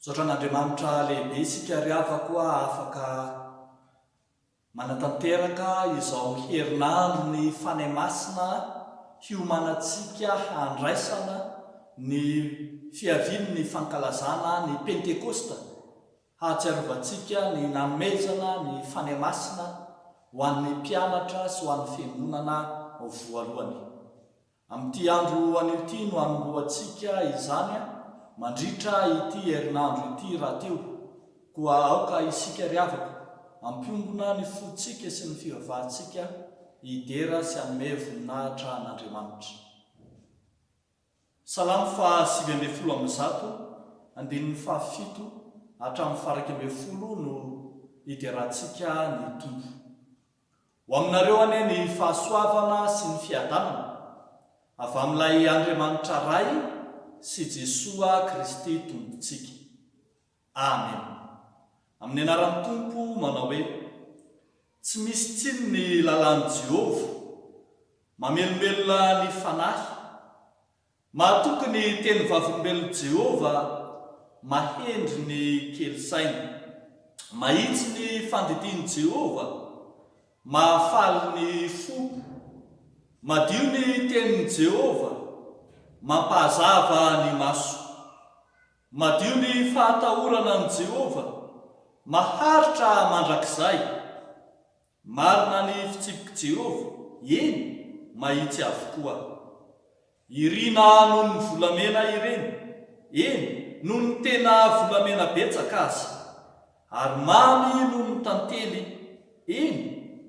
Misaotra an'Andriamanitra lehibe isika ry havako a, afaka manatanteraka izao herinandron'ny Fanahy Masina hiomanantsika handraisana ny fiavian'ny fankalazana ny Pentekosta, hahatsiarovantsika ny nanomezana ny Fanahy Masina ho an'ny mpianatra sy ho an'ny fiangonana voalohany. Amin'ity andro anio ity no hanombohantsika izany mandritra ity herinandro ity rahateo, koa aoka isika ry havako hampiombona ny fontsika sy ny fivavahantsika hidera sy hanome voninahitra an'Andriamanitra. Salamo faha sivy ambin'ny folo amby zato, andininy faha fito hatramin'ny faha iraika ambin'ny folo no hiderantsika ny Tompo. Ho aminareo anie ny fahasoavana sy ny fiadanana avy amin'ilay Andriamanitra Ray sy Jesoa Kristy Tompontsika. Amena. Amin'ny anaran'ny Tompo manao hoe, Tsy misy tsiny ny lalàn'i Jehovah. Mamelombelona ny fanahy. Mahatoky ny teny Vavolombelon'i Jehovah mahendry ny kely saina. Mahitsy ny fandidian'i Jehovah, mahafaly ny fo. Madio ny tenin'i Jehovah, mampahazava ny maso. Madio ny fahatahorana an'i Jehovah, maharitra mandrakizay. Marina ny fitsipik'i Jehovah, eny, mahitsy avokoa. Irina noho ny volamena ireny, eny, noho ny tena volamena betsaka aza. Ary mamy noho ny tantely, eny,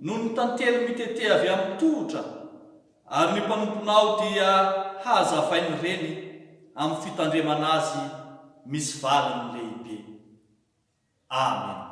noho ny tantely mitete avy amin'ny tohotra, ary ny mpanomponao dia hahazavain'ireny amin'ny fitandremana azy misy valiny lehibe. Amena.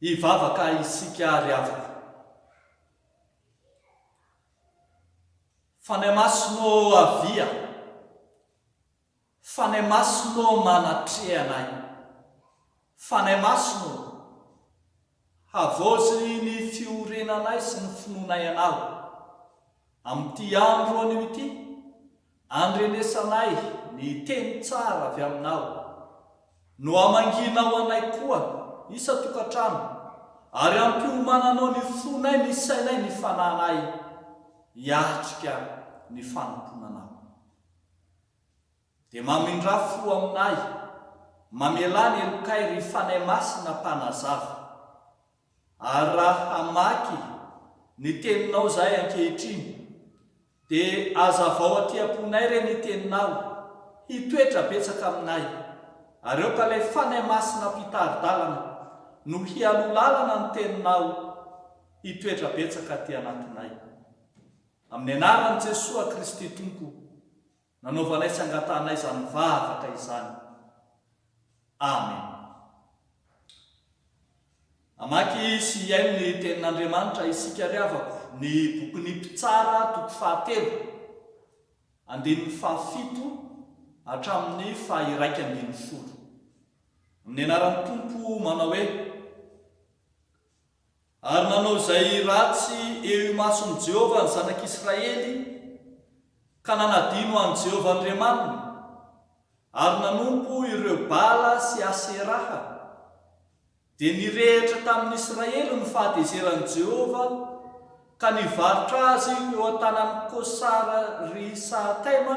Hivavaka isika ry havana. Fanahy Masina ô avia, Fanahy Masina ô manatreha anay, Fanahy Masina ô, havaozy ny fiorenanay sy ny finoanay Anao, amin'ity andro anio ity, Andrenesanay ny teny tsara avy aminao, no hamangianao anay koa isan-tokantrano, ary hampiomananao ny fonay, ny sainay, ny fananay, hiatrika ny fanompoana anao. Dia mamindrà fo aminay, mamelà ny helokay, ry Fanahy Masina Mpanazava. Ary raha hamaky ny teninao izahay ankehitriny, dia azavao aty am-ponay re ny teninao, hitoetra betsaka aminay, ary aoka ilay Fanahy Masina Mpitari-dalana no hialoha lalana ny teninao hitoetra betsaka aty anatinay. Amin'ny anaran'i Jesoa Kristy Tompo. Nanaovanay sy angatahanay izany vavaka izany. Amen. Hamaky sy hihaino ny Tenin'Andriamanitra isika ry havako, ny bokin'ny Mpitsara toko fahatelo, andininy fahafito hatramin'ny faha-iraika ambin'ny folo. Amin'ny anaran'ny Tompo manao hoe. Ary nanao izay ratsy eo imason'i Jehovah ny zanak'Israely, ka nanadino an'i Jehovah Andriamaniny, ary nanompo ireo Bala sy Aseraha. Dia nirehitra tamin'ny Israely ny fahatezeran'i Jehovah, ka nivarotra azy teo an-tanan'i Kosara-ri-Saataima,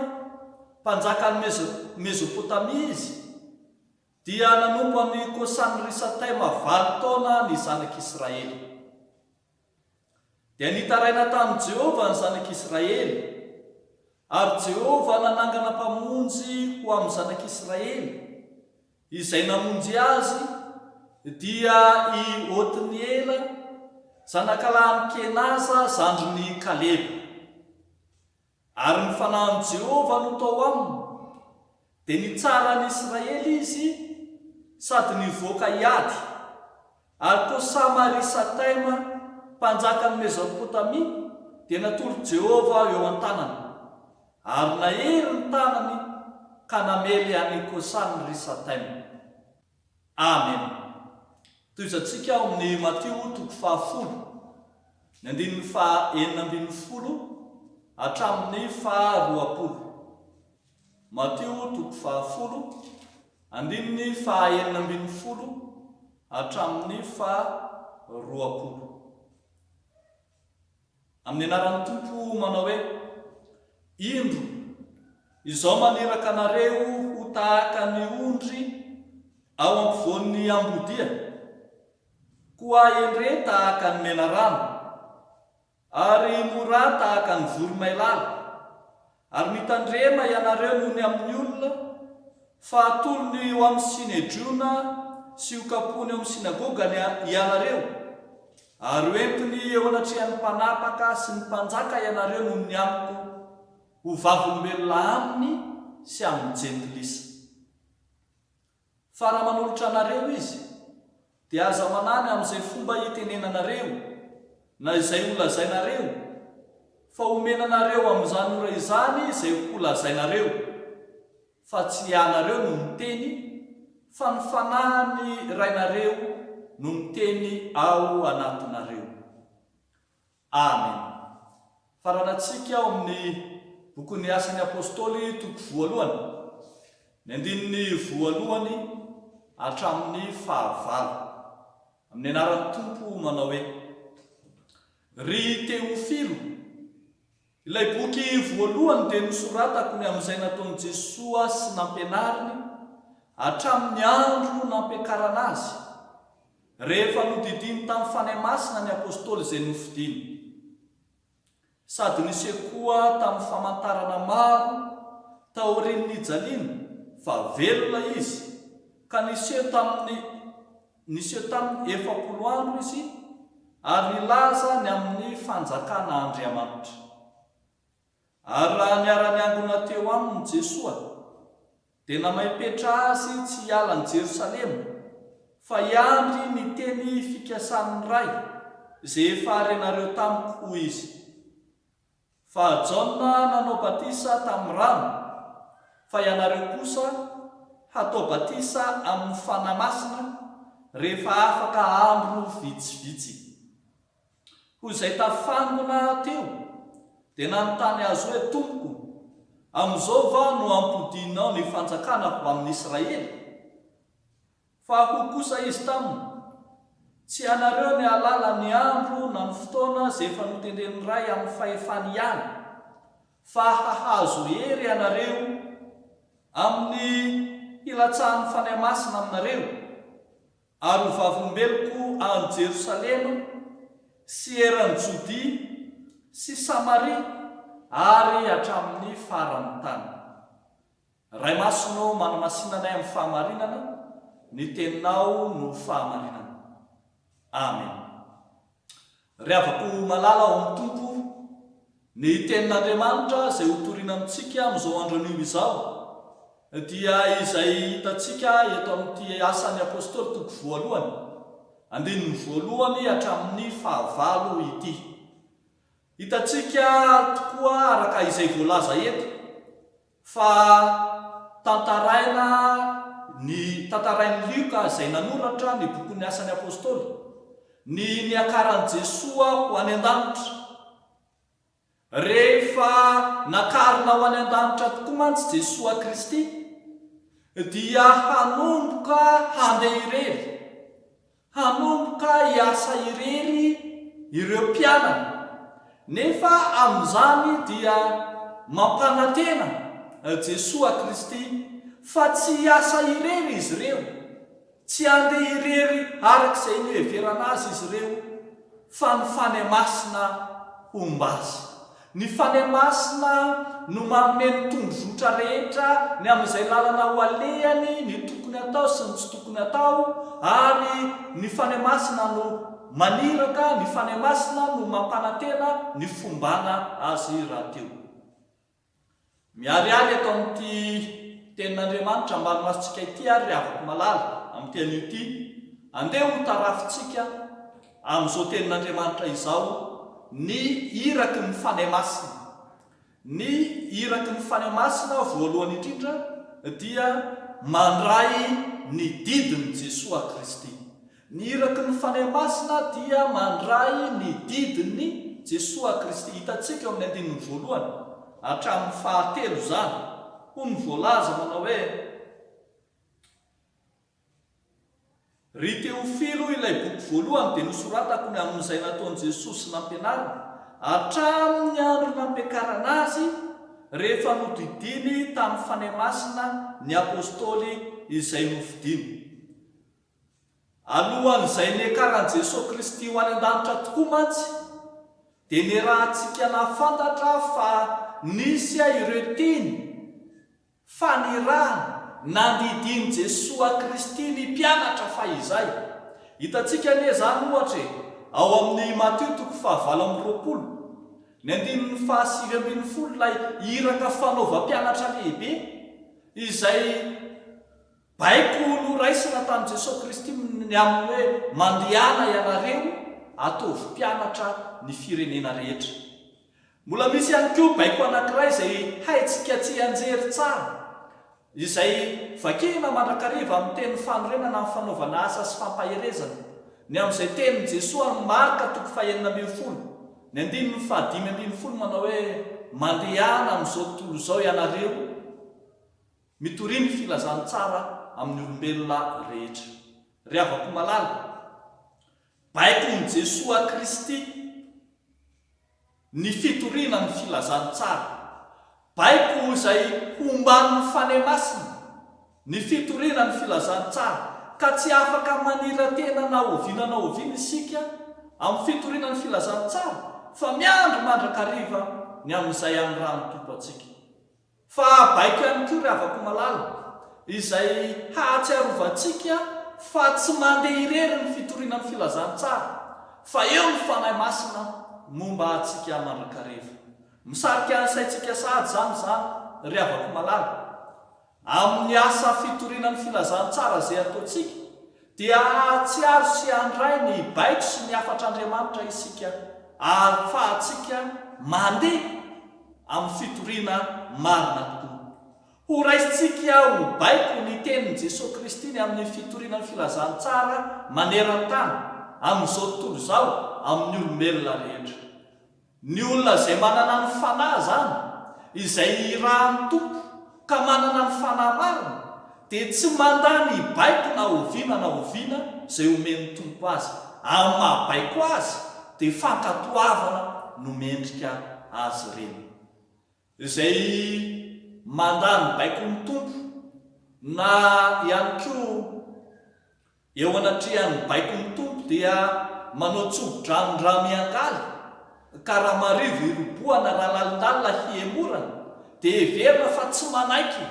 mpanjakan'i Mezopotamia izy, Dia nanompo an'i Kosany-risatema valo taona ny zanak'Israely. Dia nitaraina tamin'i Jehovah ny zanak'Israely, ary Jehovah nanangana mpamonjy ho amin'ny zanak'Israely, izay namonjy azy, dia i Otniela, zanakalahin'i Kenaza zandrin'i Kaleba. Ary ny fanahin'i Jehovah no tao aminy, dia nitsara an'i Israely izy sady nivoaka hiady. Ary koa Samari-Sataima, mpanjakan'i Mezopotamia, dia natory Jehovah eo an-tanany. Ary nahery ny tanany ka namely an'i Kosany-Risataima. Amena. Tohizantsika ao amin'ny Matio toko fahafolo, ny andininy faha enina ambin'ny folo hatramin'ny faha roapolo. Matio toko fahafolo, andininy faha enina ambin'ny folo hatramin'ny faha roapolo. Amin'ny anaran'ny Tompo manao hoe, Indro, izao maniraka anareo ho tahaka ny ondry ao ampovoan'ny ambodia, koa endre tahaka ny menarana, ary mora tahaka ny voromailala, Ary mitandrema ianareo noho ny amin'ny olona, fa hatolony eo amin'ny Synedriona sy hokapony eo amin'ny Synagogany ianareo, ary hoentiny eo anatrehan'ny mpanapaka sy ny mpanjaka ianareo noho ny amiko, ho vavolombelona aminy sy amin'ny Jentilisa. Fa raha manolotra anareo izy, dia aza manany amin'izay fomba itenenanareo, na izay holazainareo, fa homena anareo amin'izany ora izany izay holazainareo, fa tsy ianareo no miteny, fa ny Fanahin'ny Rainareo no miteny ao anatinareo. Ary, faranantsika ao amin'ny bokin'ny Asan'ny Apostoly toko voalohany, ny andininy voalohany hatramin'ny fahavalo, amin'ny anaran'ny Tompo manao hoe, Ry Teofilo, Ilay boky voalohany dia nosoratako ny amin'izay nataon'i Jesoa sy nampianariny hatramin'ny andro nampiakarana Azy, rehefa nodidiany tamin'ny Fanahy Masina ny Apôstôly izay nofidiny. Sady niseho koa tamin'ny famantarana maro taorian'ny nijaliany fa velona Izy, ka niseho tamin'ny Niseho tamin'ny efapolo andro izy ary nilaza ny amin'ny fanjakana Andriamanitra. Ary raha niara-niangona teo aminy Jesoa, dia namaipetra azy tsy hiala an'i Jerosalema fa hiandry ny teny fikasan'ny Ray izay efa renareo tamiko, hoy izy. Fa Jaona nanao batisa tamin'ny rano, fa ianareo kosa hatao batisa amin'ny Fanahy Masina rehefa afaka andro vitsivitsy. Hoy izay tafangona teo, dia nanontany azy hoe, Tompoko, amin'izao va no hampodianao ny fanjakana ho amin'Israely? Fa hoy kosa Izy taminy, Tsy hanareo ny hahalala ny andro na ny fotoana izay efa notendren'ny Ray amin'ny fahefany ihany, fa hahazo hery ianareo amin'ny hilatsahan'ny Fanahy Masina aminareo, ary ho vavolombeloko any Jerosalema sy eran'i Jodia sy Samaria ary hatramin'ny faran'ny tany. Ray Masina ô, manamasina anay amin'ny fahamarinana, ny Teninao no fahamarinana. Amen. Ry havako malala ao amin'ny Tompo, ny Tenin'Andriamanitra izay hotorina amintsika amin'izao andro anio izao dia izay hitantsika eto amin'ity Asan'ny Apostoly toko voalohany, andininy voalohany hatramin'ny fahavalo ity. Hitantsika tokoa araka izay voalaza eto Fa tantaraina ny tantarain'i Lioka izay nanoratra ny bokin'ny Asan'ny Apostoly, ny niakaran'i Jesoa ho any an-danitra. Rehefa nakarina ho any an-danitra tokoa mantsy Jesoa Kristy dia hanomboka handeha irery Hanomboka hiasa irery ireo mpianany, nefa amin'izany dia mampanantena Jesoa Kristy fa tsy hiasa irery izy ireo, tsy handeha irery araka izay noheverana azy izy ireo, fa ny Fanahy Masina homba azy. Ny Fanahy Masina no manome ny tondrozotra rehetra ny amin'izay lalana ho alehany, ny tokony atao sy ny tsy tokony atao, ary ny Fanahy Masina no maniraka, ny Fanahy Masina no mampanantena ny fombana azy rahateo. Miharihary eto amin'ity Tenin'Andriamanitra ambany masintsika ity àry ry havako malala, amin'ity anio ity. Andeha hotarafintsika amin'izao Tenin'Andriamanitra izao ny iraky ny Fanahy Masina. Ny iraky ny Fanahy Masina, voalohany indrindra, dia mandray ny didin'i Jesoa Kristy. Ny iraky ny Fanahy Masina dia mandray ny didin'i Jesoa Kristy, hitantsika ao amin'ny andininy voalohany hatramin'ny fahatelo izany, hoy ny voalaza manao hoe, Ry Teofilo o, ilay boky voalohany dia nosoratako ny amin'izay nataon'i Jesoa sy nampianariny, hatramin'ny andro nampiakarana Azy, rehefa nodidiany tamin'ny Fanahy Masina ny Apostoly izay nofidiny. Alohan'izay niakaran'i Jesoa Kristy ho any an-danitra tokoa mantsy, dia niarahantsika nahafantatra fa nisy ireo teny fanirahana nandidian'i Jesoa Kristy ny mpianatra fahizay. Hitantsika anie izany, ohatra e, ao amin'i i Matio toko fahavalo amby roapolo, ny andininy fahasivy ambin'ny folo, ilay iraka fanaovam-pianatra lehibe izay. Baiko noraisina tamin'i Jesoa Kristy ny amin'ny hoe mandehana ianareo ataovy mpianatra ny firenena rehetra. Mbola misy ihany koa baiko anankiray izay haintsika tsianjery tsara, izay vakina mandrakariva amin'ny tenin'ny fanorenana ny fanaovana asa sy fampaherezana, ny amin'izay tenin'i Jesoa amin'i Marka toko fahenina ambin'ny folo, ny andininy fahadimy ambin'ny folo manao hoe, Mandehana amin'izao tontolo izao ianareo, Mitoria ny filazantsara amin'ny olombelona rehetra. Ry havako malala, baikon'i Jesoa Kristy ny fitoriana ny filazantsara. Baiko ho izay homban'ny Fanahy Masina ny fitoriana ny filazantsara, ka tsy afaka manira-tena na oviana na oviana isika amin'ny fitoriana ny filazantsara, fa miandry mandrakariva ny amin'izay hanirahan'ny Tompo antsika. Fa baiko ihany koa ry havako malala, izay hahatsiarovantsika fa tsy mandeha irery ny fitoriana ny filazantsara, fa eo ny Fanahy Masina momba antsika mandrakariva. Misarika ny saintsika sahady izany izany, ry havako malala, amin'ny asa fitoriana ny filazantsara izay ataontsika, Dia hahatsiaro sy handray ny baiko sy ny hafatr'Andriamanitra isika ahafahantsika mandeha amin'ny fitoriana marina tokoa. Horaisintsika ho baiko ny tenin'i Jesoa Kristy ny amin'ny fitoriana ny filazantsara maneran-tany amin'izao tontolo izao amin'ny olombelona rehetra. Ny olona izay manana ny Fanahy izany, izay irahan'ny Tompo ka manana ny Fanahy marina, dia tsy mandà ny baiko na oviana na oviana izay omen'ny Tompo azy. Amin'ny maha baiko azy, dia fankatoavana no mendrika azy ireny. Izay mandà ny baikon'ny Tompo, na ihany koa Eo anatrehan'ny baikon'ny Tompo dia manao tsobo-drano raha miangaly, ka raha marivo hirobohana raha lalilalina hihemorana, dia heverina fa tsy manaiky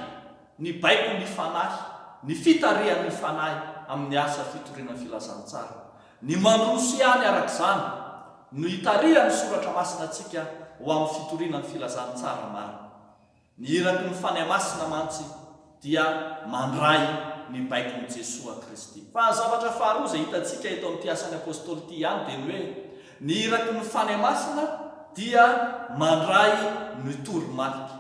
ny baiko ny Fanahy, ny fitarihan'ny Fanahy amin'ny asa fitoriana filazantsara. Ny mandroso ihany araka izany no itarihan'ny Soratra Masina antsika ho amin'ny fitoriana ny filazantsara marina. Ny iraky ny Fanahy Masina mantsy dia mandray ny baikon'i Jesoa Kristy. Fa ny zavatra faharoa izay hitantsika eto amin'ity asan'ny Apostoly ity ihany dia ny hoe ny iraky ny Fanahy Masina dia mandray ny toromarika.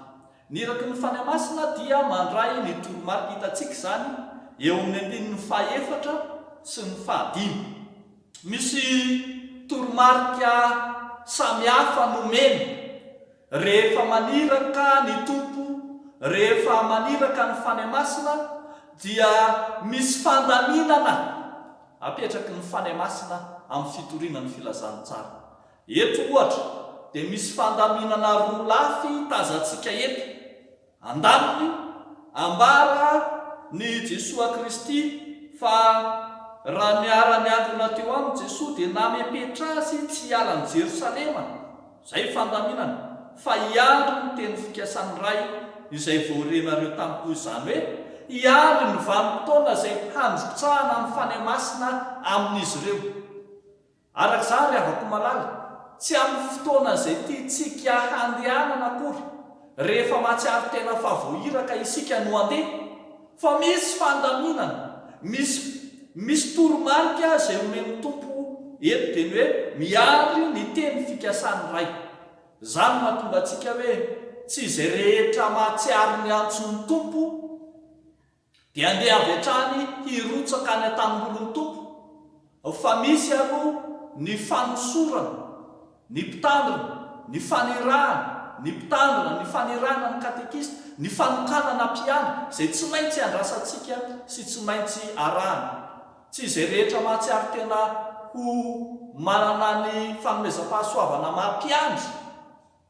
Ny iraky ny Fanahy Masina dia mandray ny toromarika. Hitantsika izany eo amin'ny andininy fahaefatra sy ny fahadimy. Misy toromarika samihafa nomeny. Rehefa maniraka ny Tompo, rehefa maniraka ny Fanahy Masina, dia misy fandaminana apetraky ny Fanahy Masina amin'ny fitoriana ny Filazantsara. Eto, ohatra, dia misy fandaminana roa lafy tazantsika eto, Andaniny, ambara ny Jesoa Kristy fa raha niara-niangona teo aminy Jesoa dia namepetra azy tsy hiala an'i Jerosalema, izay fandaminana, fa hiandry ny teny fikasan'ny Ray izay vao renareo tampoy izany hoe hiandry ny vanim-potoana izay handrotsahana ny Fanahy Masina amin'izy ireo. Araka izaho ry havako malala, tsy amin'ny fotoana izay tiantsika handehanana akory, rehefa mahatsiaro tena fa voairaka isika no handeha, fa misy fandaminana, misy misy toromarika izay omen'ny Tompo eto dia ny hoe miary ny teny fikasan'ny Ray. Izany mahatonga antsika hoe tsy izay rehetra mahatsiaro ny antson'ny Tompo Dia andeha avy hatrany hirotsaka any an-tanimbolin'ny Tompo, fa misy aloha ny fanosorana ny mpitandrina, ny fanirahana ny mpitandrina, ny fanirahana ny katekista, ny fanokanana mpiana, izay tsy maintsy andrasantsika sy tsy maintsy arahana. Tsy izay rehetra mahatsiaro tena ho manana ny fanomezam-pahasoavana maha-mpiandry.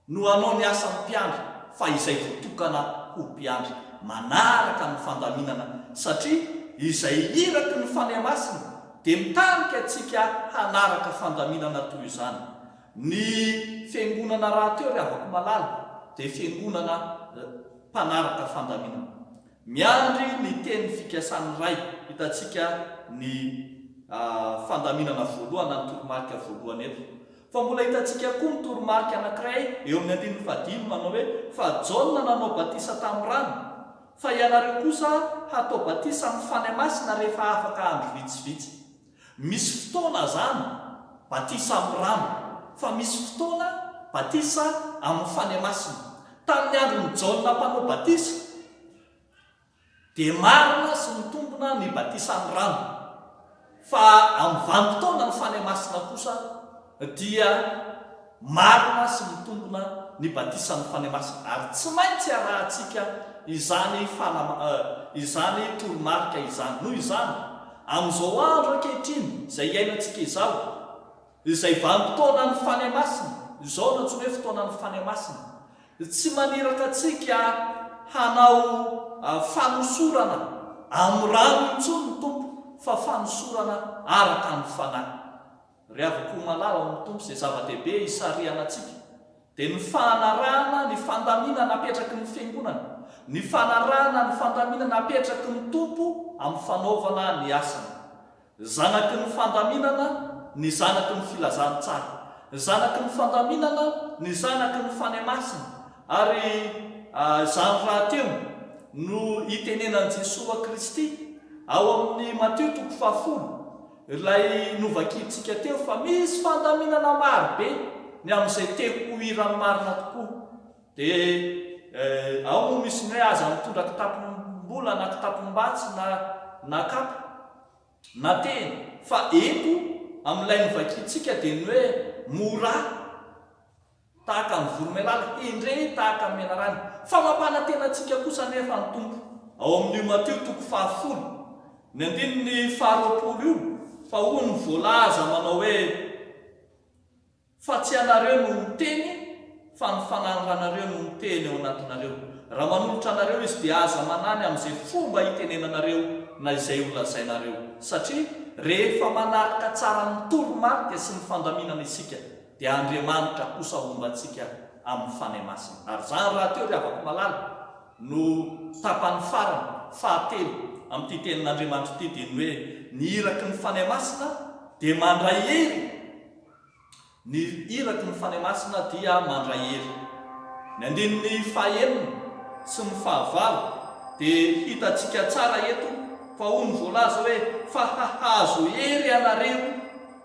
No hanao ny asan'ny mpiandry fa izay voatokana ho mpiandry manaraka ny fandaminana satria izay iraky ny Fanahy Masina dia mitarika antsika hanaraka fandaminana toy izany. Ny Fiangonana rahateo ry havako malala dia Fiangonana mpanaraka fandaminana. Miandry ny teny fikasan'ny Ray, hitantsika ny fandaminana voalohany na ny toromarika voalohany eto. Fa mbola hitantsika koa ny toromarika anankiray eo amin'ny andininy fahadimy manao hoe, Fa Jaona nanao batisa tamin'ny rano, fa ianareo kosa hatao batisa amin'ny Fanahy Masina rehefa afaka andro vitsivitsy. Misy fotoana izany batisa amin'ny rano, fa misy fotoana batisa amin'ny Fanahy Masina. Tamin'ny andron'i Jaona Mpanao Batisa, Dia marina sy mitombina ny batisan'ny rano, fa amin'ny vanim-potoana ny fanahy masina kosa dia marina sy mitombina ny batisan'ny fanahy masina, ary tsy maintsy arahantsika izany fanam, izany toromarika izany. Noho izany, amin'izao andro ankehitriny izay iainantsika izao, Izay vanim-potoanan'ny fania masina, izao no antsoina hoe fotoanan'ny fania masina. Tsy maniraka antsika hanao fanosorana amin'ny rano intsony ny Tompo fa fanosorana araka ny Fanahy. Rehaviko ho malala ao amin'ny Tompo izay zava-dehibe hisarihana antsika dia ny fanarahana ny fandaminana apetraky ny Fiangonana, ny fanarahana ny fandaminana apetraky ny Tompo amin'ny fanaovana ny asany. Ny zanaky ny fandaminana, ny zanaky ny filazantsara. Ny zanaky ny fandaminana, ny zanaky ny fanahy masina. Ary izany rahateo no itenenan'i Jesoa Kristy ao amin'ny Matio toko fahafolo, ilay novakiantsika teo fa misy fandaminana marobe ny amin'izay te ho hiran'ny marina tokoa. Dia eh, ao moa misy ny hoe aza mitondra kitapom-bola na kitapom-batsy na na kapa na tehina. Fa eto amin'ilay novakiantsika dia ny hoe mora tahaka ny voromailala, hendre tahaka ny menarana. Fa mampanantena antsika kosa anefa ny Tompo ao amin'io Matio toko fahafolo, ny andininy faharoapolo io, fa hoy ny voalaza manao hoe. Fa tsy ianareo no miteny fa ny Fanahin'ny Ranareo no miteny ao anatinareo. Raha manolotra anareo Izy dia aza manany amin'izay fomba itenenanareo na izay holazainareo. Satria rehefa manaraka tsara ny toromarika sy ny fandaminana isika dia Andriamanitra kosa homba antsika amin'ny Fanahy Masina. Ary izany rahateo ry havako malala no tapany farany, fahatelo, amin'ity tenin'Andriamanitra ity dia ny hoe ny iraky ny Fanahy Masina dia mandray hery. Ny iraky ny Fanahy Masina dia mandray hery. Ny andininy fahenina sy ny fahavalo dia hitantsika tsara eto fa hono voalaza hoe fa hahazo hery ianareo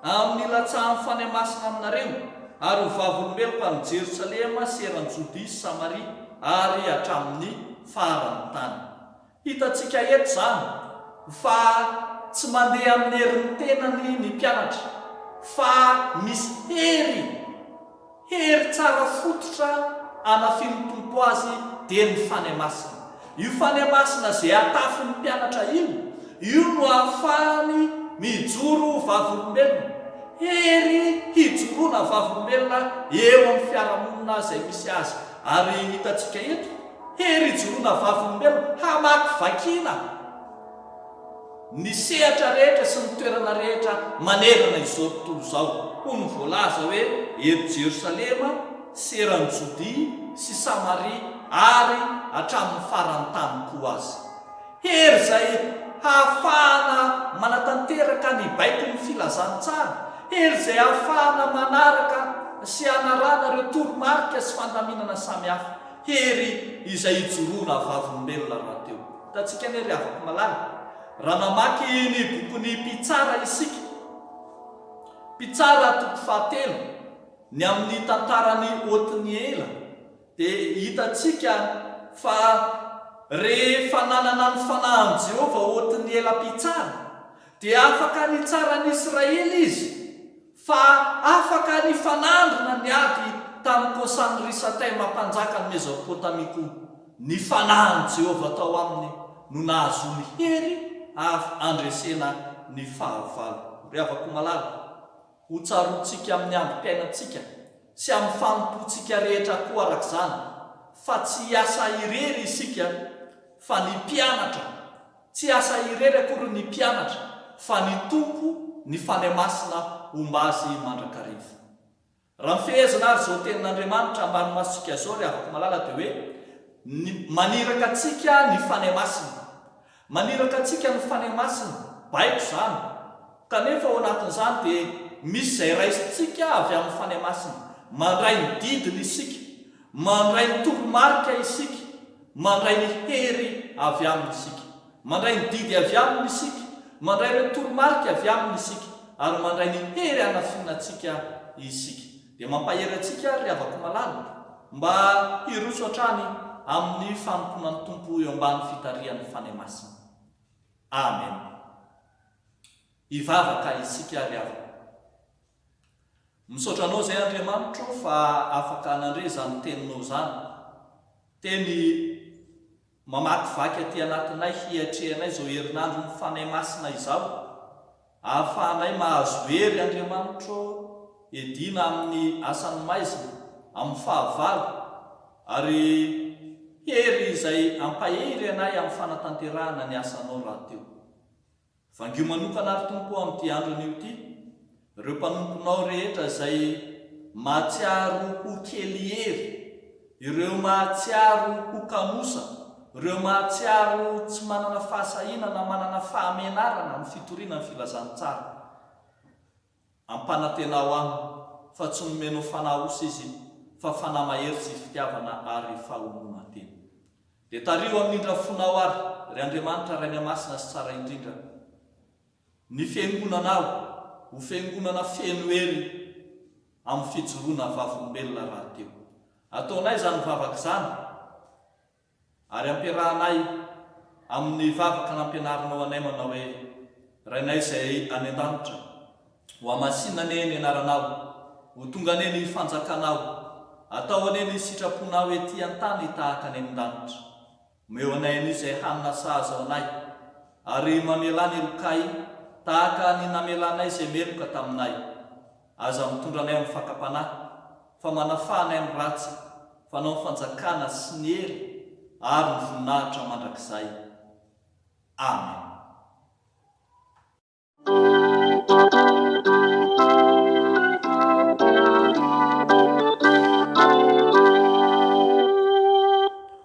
amin'ny hilatsahan'ny Fanahy Masina aminareo, ary ho vavolombeloko any Jerosalema sy eran'i Jodia sy Samaria ary hatramin'ny faran'ny tany. Hitantsika eto izany fa tsy mandeha amin'ny herin'ny tenany ny mpianatra fa misy hery, hery tsara fototra anafin'ny Tompo azy dia ny Fanahy Masina. Io Fanahy Masina izay atafin'ny mpianatra iny, io no ahafahany mijoro ho vavolombelona. Hery hijoroana vavolombelona eo amin'ny fiarahamonina izay misy azy. Ary hitantsika eto. Hery ijoroana vavolombelona hamakivakiana ny sehatra rehetra sy ny toerana rehetra manerana izao tontolo izao, hoy ny voalaza hoe eto Jerosalema sy eran'i Jodia sy Samaria ary hatramin'ny faran'ny tany koa aza. Hery izay hahafahana manatanteraka ny baikon'ny filazantsara, hery izay hahafahana manaraka sy hanarahana ireo toromarika sy fandaminana samihafa. Hery izay ijoroana vavolombelona rahateo. Hitantsika anie ry havako malala, raha mamaky ny bokin'ny Mpitsara isika, Mpitsara toko fahatelo, ny amin'ny tantaran'i Otniela, dia hitantsika fa rehefa nanana ny fanahin'i Jehovah Otniela Mpitsara, dia afaka nitsaran'ny Israely izy fa afaka nifanandrina ny ady tamin'i Kosany Risataima mpanjakan'i Mezopotamia koa. Ny fanahin'i Jehovah tao aminy no nahazoany hery avy handresena ny fahavalo. Ry havako malala, hotsaroantsika amin'ny androm-piainantsika sy amin'ny fanompoantsika rehetra koa araka izany, fa tsy hiasa irery isika, fa ny mpianatra Tsy asa irery akory ny mpianatra fa ny Tompo ny Fanahy Masina homba azy mandrakariva. Raha mifehezana ary izao tenin'Andriamanitra ambany masontsika izao ry havako malala dia hoe ny maniraka antsika ny Fanahy Masina. Maniraka antsika ny Fanahy Masina, baiko izany. Kanefa ao anatin'izany dia misy izay raisintsika avy amin'ny Fanahy Masina. Mandray ny didiny isika. Mandray ny toromarika isika. Mandray ny hery avy Aminy isika. Mandray ny didy avy Aminy isika. Mandray ireo toromarika avy Aminy isika. Ary mandray ny hery hanafina antsika isika. Dia mampahery antsika àry ry havako malala, mba hiroso hatrany amin'ny fanompoana ny Tompo eo ambany fitarihan'ny Fanahy Masina. Amena. Hivavaka isika ry havana. Misaotra anao zay Andriamanitro fa afaka nandre zany teninao zany teny mamakivaky aty anatinay hiatrehanay zao herinandro ny Fanahy Masina izao ahafahanay mahazo hery Andriamanitro edina aminy asany maizina aminy fahavalo ary hery izay ampahery anay aminy fanatanterahana ny asanao rahateo. Vangio manokana ary Tompo o amin'ity andro anio ity ireo mpanomponao rehetra izay mahatsiaro ho kely hery, ireo mahatsiaro ho kamosa, ireo mahatsiaro tsy manana fahasahiana na manana fahamenarana amin'ny fitoriana ny filazantsara. Ampanantenao aho fa tsy nomeno fanahy osa izy fa fanahy mahery sy fitiavana ary fahononan-tena. Dia tariho amin'ny indra fonao ary ry Andriamanitra Ray Miamasina sy Tsara indrindra ny fiangonanao ho fiangonana feno hery amin'ny fijoroana vavolombelona rahateo. Ataonay izany vavaka izany. Ary ampiarahanay amin'ny vavaka nampianarinao anay manao hoe, Rainay izay any an-danitra, ho hamasinina anie ny anaranao, ho tonga anie ny fanjakanao, atao anie ny sitraponao ety an-tany tahaka any amin-danitra. Omeo anay anie izay hanina sahaza ho anay, ary mamela ny helokay tahaka ny namelanay izay meloka taminay. Aza mitondra anay amin'ny fakam-panahy, fa manafaha anay amin'ny ratsy, fanao ny fanjakana sy ny hery ary ny voninahitra mandrakizay. Amena.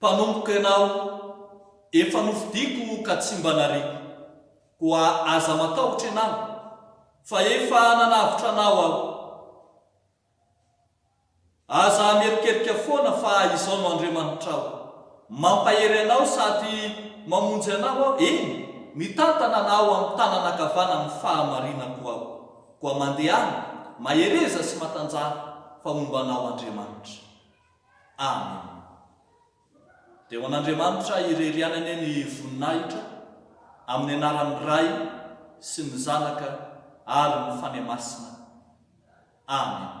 Mpanompo ianao, efa nofidiko ka tsy mba nariako, koa aza matahotra ianao, fa efa nanavotra anao aho. Aza hamerikerika foana fa izao no Andriamanitrao, mampahery anao sady mamonjy anao aho, eny, mitantana anao amin'ny tanana ankavanan'ny fahamarinako aho, koa mandehana mahereza sy matanjaha, fa momba anao Andriamanitra. Amen. Dia ho an'Andriamanitra irery ihany anie ny voninahitra amin'ny anaran'ny Ray sy ny Zanaka ary ny Fanahy Masina. Amen.